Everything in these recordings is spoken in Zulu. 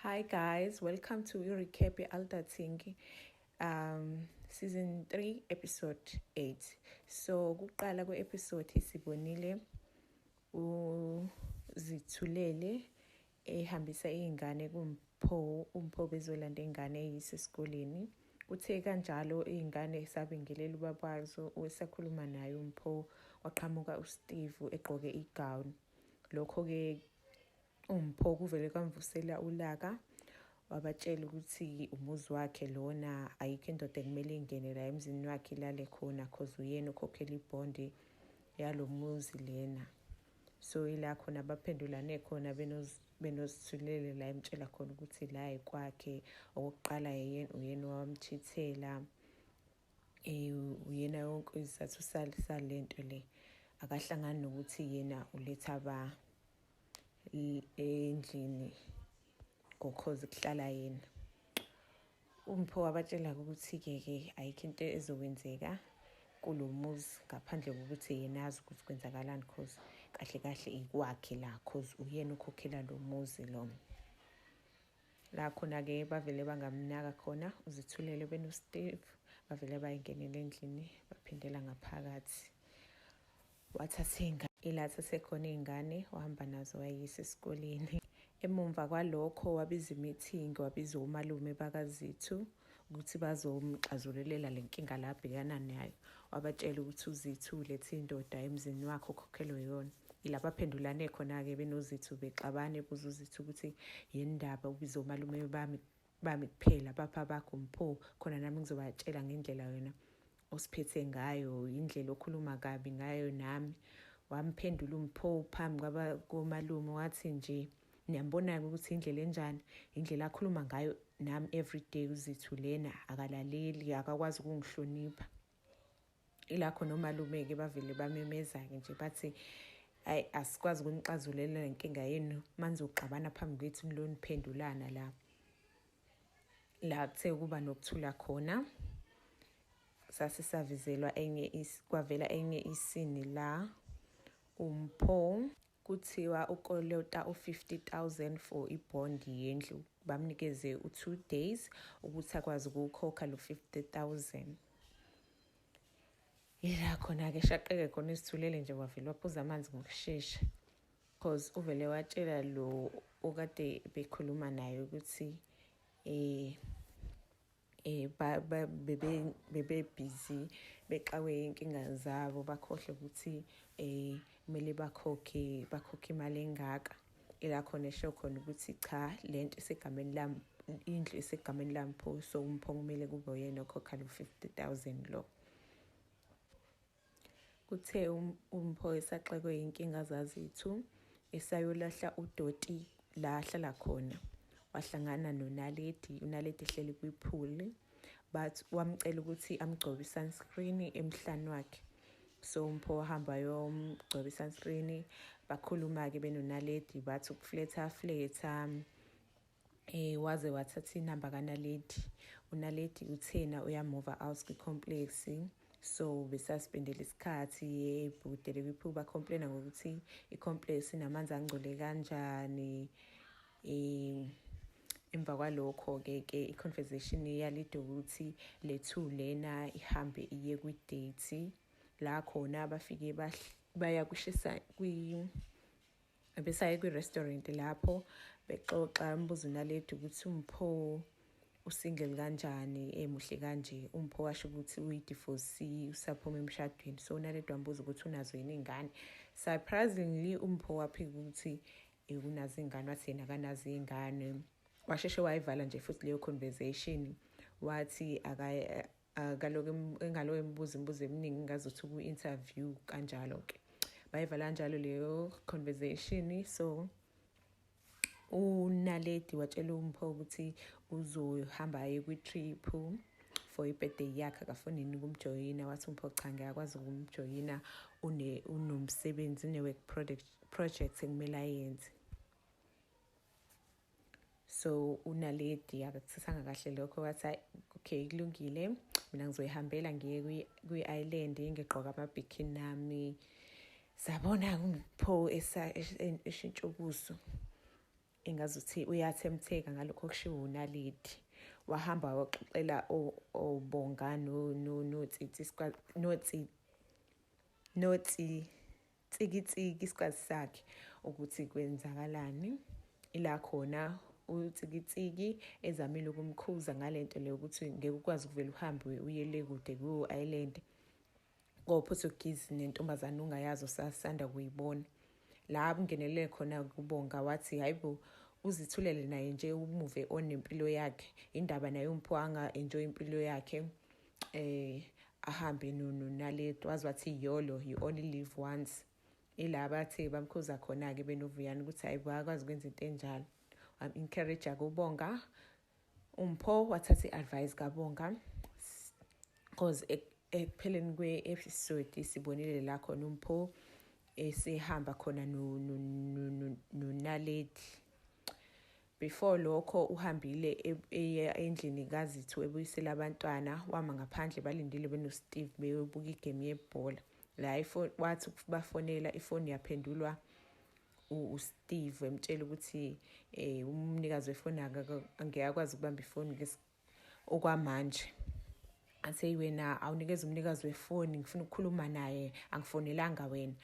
Hi guys, welcome to your recap Alta Thingy. Um season 3 episode 8. So kuqala ku episode sibonile uzithulele ehambisa izingane kumpho umpho bezolanda ingane eyise esikoleni. Uthe kanjalo izingane sabingelela ubabazo osakhuluma naye umpho waqhamuka uSteve egqoke igown. Lokho ke uMpho kuvele kwamvusela ulaka wabatshela ukuthi umuzi wakhe lona ayikho indoda ekumele ingene la emzini wakhe ilale khona cause uyena ukhokhela ibhondi yalo muzi lena so ila khona baphendulane khona benozithulele la emtshela khona ukuthi la yikwakhe okokuqala yena uyena owamchithela um uyena yonke isizathu sale nto le akahlangani nokuthi yena uletha ba endlini ngokhozi kuhlala yena umpho wabatshela ukuthi-ke ke ayikho into ezokwenzeka kulo muzi ngaphandle kokuthi yena azi ukuthi kwenzakalani cause kahle kahle ikwakhe la cause uyena ukhokhela lo muzi lo la khona-ke bavele bangamnaka khona uzithulele benosteve bavele bayengenela endlini baphindela ngaphakathi Wathatha ingane ilatha sekhona iy'ngane wahamba nazo wayisa esikoleni. Emumva kwalokho wabiza imithingi wabiza omalume bakaZithu ukuthi bazomxazululela le nkinga la abhekana nayo. Wabatshela ukuthi uZithu ulethe indoda emzini wakhe okhokhelwe yona. Ila baphendulane khona-ke benoZithu bexabana ebuza uZithu ukuthi yini ndaba ubiza omalume bami bami kuphela bapha bakho mpho khona nami ngizobatshela ngendlela wena osiphethe ngayo indlela okhuluma kabi ngayo nami wamphendula umpho phambi kwaba komalume wathi nje niyambona-ke ukuthi indlela enjani indlela akhuluma ngayo nami everyday uzithu lena akalaleli akakwazi ukungihlonipha ila khona omalume-ke bavele bamemeza-ke nje bathi ayi asikwazi ukunixazulela le nkinga yenu manizoxabana phambi kwethu niloniphendulana la la kuthe ukuba nokuthula khona sase savizelwa enye kwavela enye isini la umpho Kuthiwa ukolota u-50,000 for i-bond yendlu. Bamnikeze u-two days ukuthi akwazi ukuwukhokha lo 50,000. Yila khona-ke shaqeke khona izithulele nje wavele waphuza amanzi ngokushesha. Cause uvele watshela lo okade bekhuluma naye ukuthi eh eh ba bebe bebe busy bexawe inkinga zabo bakhohle ukuthi eh kumele bakhokhe bakhokhe imali engaka ila khona esho khona ukuthi cha lento isegameni lami indlu isegameni lami pho so umphongo kumele kube uyena okhokha lo 50000 lo Kuthe um, uMpho esaxekwe yinkinga zazithu esayolahla udoti la ahlala khona wahlangana nonaledi unaledi ehleli kwipool but wamcela ukuthi amgcobe i-sunscreen emhlane wakhe so umpho wahamba yomgcoba i-sunscreen bakhuluma-ke benonaledi bathi ukufletha fletha eh waze wathatha inamba kanaledi unaledi uthena uyamuva out kwi-complex so besaspendela isikhathi yebhudele biphi bacomplaina ngokuthi i-complex inamanzi angcole kanjani um emva kwalokho-ke ke i-conversation yalide ukuthi le two lena ihambe iye kwi-date la khona bafike baya kushisa kwi Besaye kwi-restaurant lapho bexoxa umbuzo naledi ukuthi umpho usingle kanjani emuhle kanje umpho washo ukuthi uyidivorce usaphuma emshadweni so naledi wambuza ukuthi unazo yini iy'ngane surprisingly umpho waphika ukuthi eh, unazo iy'ngane wathi yena kanazo iy'ngane washeshe wayivala nje futhi leyo conversation wathi akaloke engaloke embuza imibuzo eminingi ngazuthi uku-interview kanjalo-ke bayivala kanjalo leyo conversation so unaledi watshela umpho ukuthi uzohamba aye kwi-trip for ibirthday yakhe akafuni yini ukumjoyina wathi umpho cha ngiyakwazi ukumjoyina unomsebenzi une-work project ekumele ayenze so unaledi akakusisanga kahle lokho wathi okay kulungile mina ngizoyihambela ngiye kwi-island ngigqoka amabhikini nami sabona ngipho eshintsha ubuso engazuthi uyathemtheka ngalokho okushiwo unaledi wahamba waxoxela obonga notsitsi notsitsi Tsikitsiki isikhathi sakhe ukuthi kwenzakalani ila khona utsikitsiki ezamile ukumkhuza ngalento leyo ukuthi ngeke ukwazi ukuvela uhambe uye le kude ku Island koPortuguese nentombazana ungayazi osasanda kuyibona la kungenelele khona kubonga wathi hayibo uzithulele naye nje umuve onempilo yakhe indaba naye umpho anga enjoy impilo yakhe eh ahambe nunu naleto wazi wathi yolo you only live once ila bathe bamkhuza khona-ke benovuyana ukuthi hayi bakwazi ukwenza into enjalo wam-encourage-a kubonga umpho wathatha i-advice kabonga cause ekupheleni kwe-episode sibonile la khona umpho esihamba khona nonaledi Before lokho uhambile eya endlini kaZithu ebuyisela abantwana wama ngaphandle balindile benoSteve beyobuka igame yebhola. La wathi bafonela ifoni yaphendulwa uSteve emtshela ukuthi eh umnikazi wefoni ngeke akwazi ukubamba ifoni okwamanje athi wena awunikeza umnikazi wefoni ngifuna ukukhuluma naye angifonelanga wena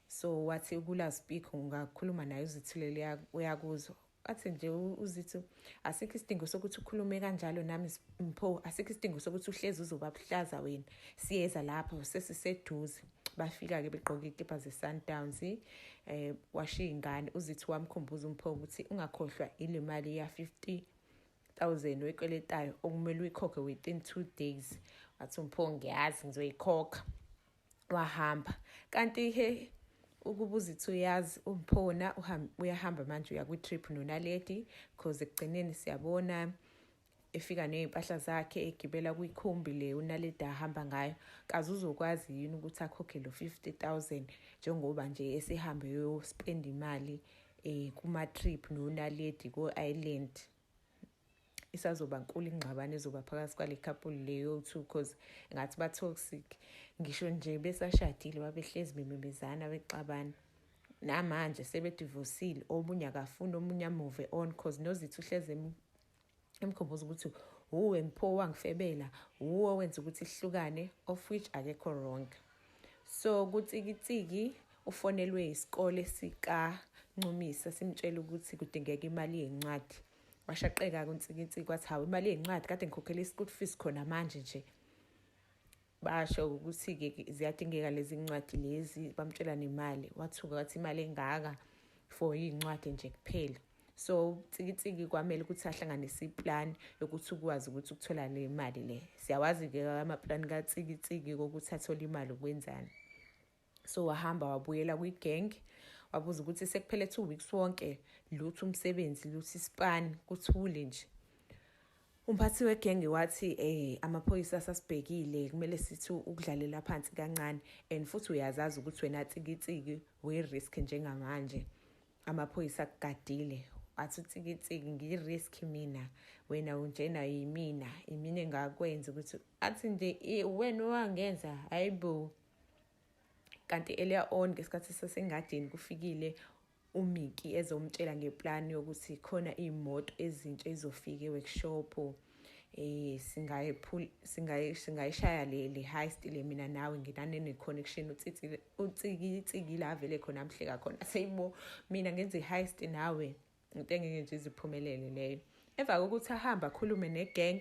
so wathi ukula speak ungakhuluma naye uzithulele uyakuzwa athi nje uzithi asikho isidingo sokuthi ukhulume kanjalo nami mpho asikho isidingo sokuthi uhlezi uzoba buhlaza wena siyeza lapho sesiseduze bafika-ke begqoke iy'kibha ze-sundowns um eh, washiya ingane uzithi wamkhumbuza umpho ukuthi ungakhohlwa ile mali ya-fifty thousand oyikweletayo okumele uyikhokhe within two days wathi umpho ngiyazi ngizoyikhokha wahamba kanti he ukuba uzithi uyazi umphona uyahamba manje uya kwi-trip nonaledi because ekugcineni siyabona efika ney'mpahla zakhe egibela kwikhumbi le unaledi ahamba ngayo kaze uzokwazi yini ukuthi akhokhe lo 50 000 njengoba nje esihambe yospenda imali eh kuma trip no Naledi ko Island isazoba nkulu ingxabano ezoba phakathi kwale couple leyo two cause ngathi ba toxic ngisho nje besashadile babehlezi bememezana bexabana namanje sebedivosile omunye akafuni omunye amuve on cause nozithu uhleze emkhumbuza ukuthi wuwe mpho wangifebela wuwe owenza ukuthi sihlukane of which akekho wrong so kutsikitsiki ufonelwe isikole sikancumisa simtshela ukuthi kudingeka imali yencwadi washaqeka kuntsikitsiki wathi hawu imali yencwadi kade ngikhokhela i-school fees khona manje nje basho ukuthi-ke ziyadingeka lezi ncwadi lezi bamtshela nemali wathuka wathi imali engaka for iy'ncwadi nje kuphela so tsikitsiki kwamele ukuthi ahlanganise iplani yokuthi ukwazi ukuthi ukuthola le mali le siyawazi-ke amaplani katsikitsiki kokuthi athole imali ukwenzani so wahamba wabuyela kwi-gang wabuza ukuthi sekuphele two weeks wonke lutho umsebenzi luthi ispan kuthule nje umphathi wegenge wathi eh amaphoyisa asasibhekile kumele sithi ukudlalela phansi kancane and futhi uyazazi ukuthi wena tsikitsiki we-risk njengamanje amaphoyisa akugadile athi utsikitsiki ngi-risk mina wena unjena yimina imina engakwenza ukuthi athi nje wena owangenza hayi bo kanti earlier on ngesikhathi sasengadini kufikile umiki ezomtshela ngeplani yokuthi khona iy'moto ezintsha ezofika e-workshop um eh, singayishaya le high stile mina nawe nginanene-connection utsikitsikile avele khona amhleka khona seyibo mina ngenza i-high sti nawe into engeke nje iziphumelele leyo emva kokuthi ahambe akhulume ne-gang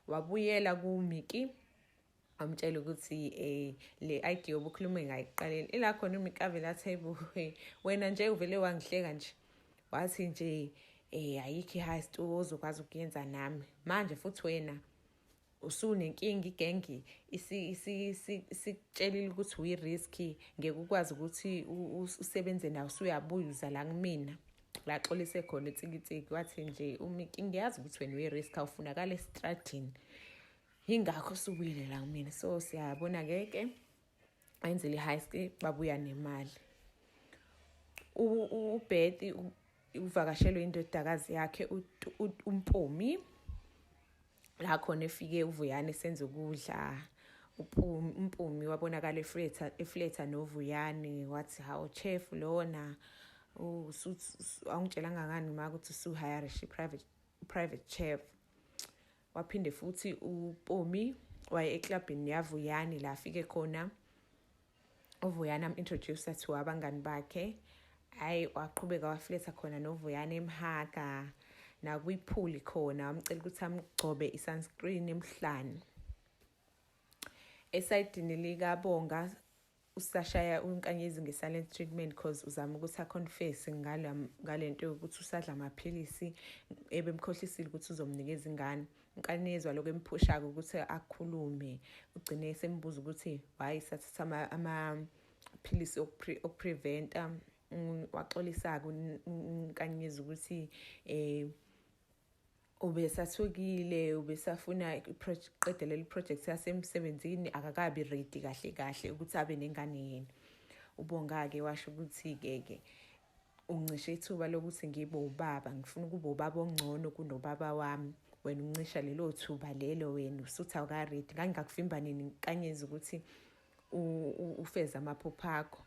wabuyela kumiki amtshela ukuthi eh le idea obukhuluma ngayiqaleni ila khona umikavela athebu wena nje uvele wangihleka nje wathi nje eh ayikho high stu ozokwazi ukuyenza nami manje futhi wena usunenkinga igengi isikutshelile ukuthi uyi-risk ngeke ukwazi ukuthi usebenze nawo usuyabuya uza la kumina la xolise khona itsikitsiki wathi nje umiki ngiyazi ukuthi wena uyi-risk awufunakala esitradini yingakho subuyele la kumina so siyabona ke ke ayenzele i-high school babuya nemali ubhethi uvakashelwe indodakazi yakhe umpumi la khona efike uvuyane senze ukudla umpumi wabonakala efletha efletha novuyane wathi hawu chef lona awungitshelanga ngani ma ukuthi usuhayarish private private chef waphinde futhi upomi waye eclubhini yavuyani la afike khona uvuyani am-introducer to abangani bakhe hhayi waqhubeka wafletha khona novuyani emhaga nakwiphuli khona wamcela ukuthi amgcobe i-sunscreen emhlane esayidini likabonga usashaya uNkanyezi nge-silent treatment cause uzama ukuthi aconfesse ngale nto yokuthi usadla amaphilisi ebemkhohlisile ukuthi uzomnikeza ingane uNkanyezwa lokho emphusha-ke ukuthi akhulume ugcine esembuza ukuthi why sathatha amaphilisi okupreventa waxolisa-ke uNkanyezi ukuthi um ubesathukile ubesafuna iqede leli project yasemsebenzini akakabi ready kahle kahle ukuthi abe nengane yena ubonga-ke washo ukuthi-ke ke uncishe ithuba lokuthi ngibe ubaba ngifuna ukuba ubaba ongcono kunobaba wami wena uncisha lelo thuba lelo wena usuthi awukaredi ngangingakuvimba nini kanyezi ukuthi ufeze amaphupho akho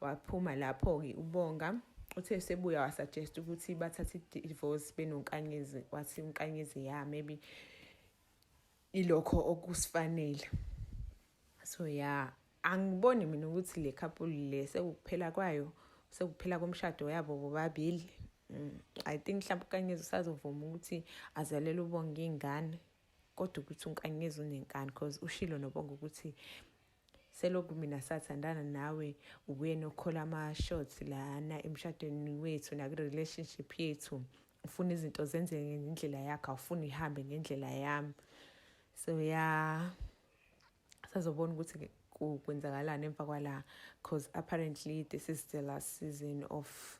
Waphuma lapho-ke uBonga. Uthe esebuya wasuggest ukuthi bathathe i-divorce benoNkanyezi. Wathi uNkanyezi ya maybe ilokho okusifanele. So ya angiboni mina ukuthi le couple le sekuphela kwayo sekuphela komshado yabo bobabili. Mm, I think mhlawumbe uNkanyezi usazovuma ukuthi azalele uBonga ingane kodwa ukuthi uNkanyezi unenkani because ushilo noBonga ukuthi selokhu mina sathandana nawe uwena okhola ama-shots lana emshadweni wethu nakwi-relationship yethu ufuna izinto zenzeke ngendlela yakho awufuni ihambe ngendlela yami so ya yeah. sazobona ukuthi kwenzakalani emva kwala because apparently this is the last season of